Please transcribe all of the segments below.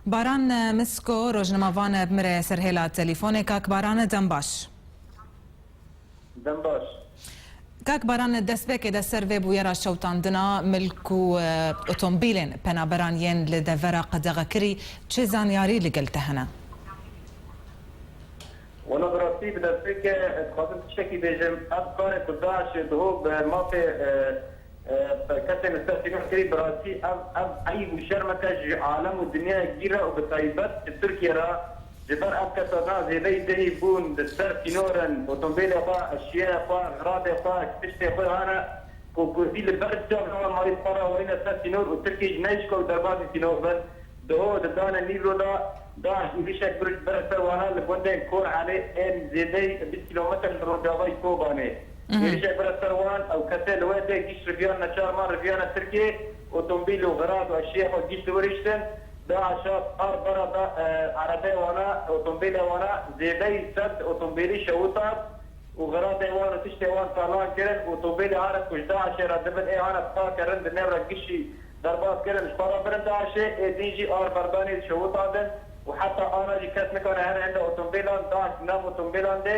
Baran Misko, rojnima vane bimire ser hêla telîfonê. Kak Baran dem baş. Dem baş. Kak Baran destpêkê de ser vê bûyera şewitandina milk û otombîlên penaberan yên li devera qedexekirî çi zanyarî li gel te hene? Wela bi rastî bi destpêkê dixwazim tiştekî bêjim. Ev karê ku DAIŞ'ê dihû bi mafê Bi kesên li ser sînor kirî, bi rastî ev ev eyb û şermeke ji alem û dinyayê gîr re û bi taybet ji Tirkiyê re. Ji ber ev kesa na zêdeyî cihî bûn li ser sînor in, otombêlê xwe, eşyayê xwe, xiradê xwe, kiştê xwe hane ku kurdî li ber çav nabe mayî xwe re werîne ser sînor û Tirkiyê jî neyişka ku derbasî sînor bin. Doh di danê Nîvro de DAIŞ êrîşek bi bire ser wana li gundên Kor Elê ên zêdeyî bîst kîlometre li rojavayî Kobanê. Êrîşek bira ser wan, ew kesê li we tê gîşt riviyan neçar man riviyane Tirkiyê, otomobîl û xirad û eşyeyê xwe gîşt li wir hiştin, da aşat, ard bara da erebeyê wana, otomobîlê wana, zêdeyî sed otomobîlî şewitat û xiradê wan û tiştê wan talan kirin, otomobîlê hane ku ji DAIŞê re dibin ê hane bi take rind di nêv re gişî berbat kirin, ji xwe re birin DAIŞê ê din jî ard berdanî dişewitatin û heta ana jî kes nikane her hinda otomobîlan DAIŞ di nav otomobîlan dê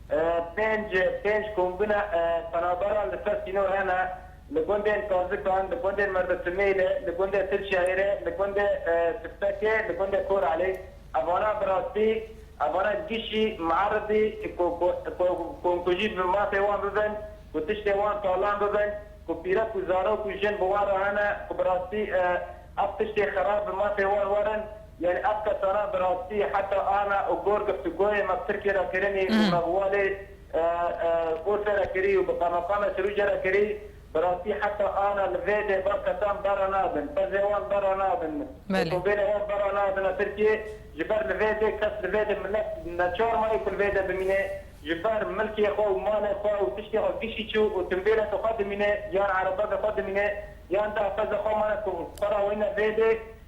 Pênc pênc kombîna penaberan li ser sînor hene, li gundên Karzikan, li gundên Merditimêlê, li gundê Tirçayêrê, li gundê Siftekê, li gundê Koralê. Evana bi rastî, evana gişî, mueribî ku komkujî bi mafê wan bibin, ku tiştê wan talan bibin, ku pîrek û zarok û jin bi wan re hene, ku bi rastî ev tiştê xerab bi mafê wan werin, Yanî ev kesana bi rastî heta ana û gor giftugoyê me bi Tirkiyê re kirinî û me bi walê Urfê re kirî û bi Qemeqamê Sirûcê re kirî, bi rastî heta ana li vê dê va kesan berra nadin, pezê wan berra nadin, otobêlê wan berra nadine Tirkiyê, ji ber li vê dê kes li vê dê milet neçar mayê ku li vê dê bimînê, ji ber milkê xwe û malê xwe û tiştê xwe gişî çû û timbêleke xwe dimînê yan erebebê xwe dimînê yan deh pezê xwe mane ku xwe ra weyne vê dê.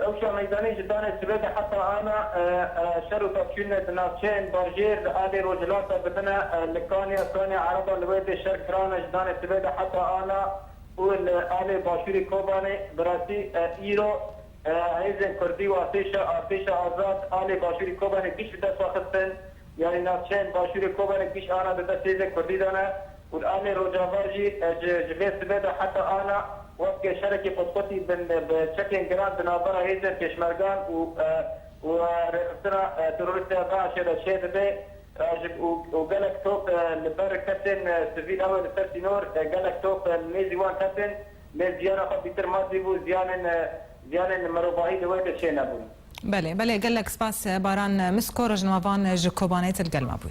Rewşa meydanî ji danê sibê de heta ana şer û tevçûnê di navçeyên bajêr li aliyê rojhilata dibine li kaniya kaniya ereban li wê tê şer kiran e ji danê sibê de heta ana û li aliyê başûrî Kobanê bi rastî îro hêzên kurdî û artêşa artêşa azad aliyê başûrî Kobanê kij bi dest ve xistin yanî navçeyên başûrê Kobanê kij ana di dest hêzên kurdî de ne Qur'anê Rojava jî ji ji vê sibê de heta ana weke şerekî qutqutî bin bi çekên giran di navbera hêzên pêşmergan û û rêxistina terorîst ya DAIŞ'ê de çê dibe û gelek top li ber kesên sivîl ew ê li ser sînor gelek top li nêzî wan ketin lê ziyana xwe bîtir madî bû ziyanên ziyanên mirovahî li wê de çê nebûn. Belê belê gelek spas Baran Misko rojnama van ji Kobanê til gel me bûy.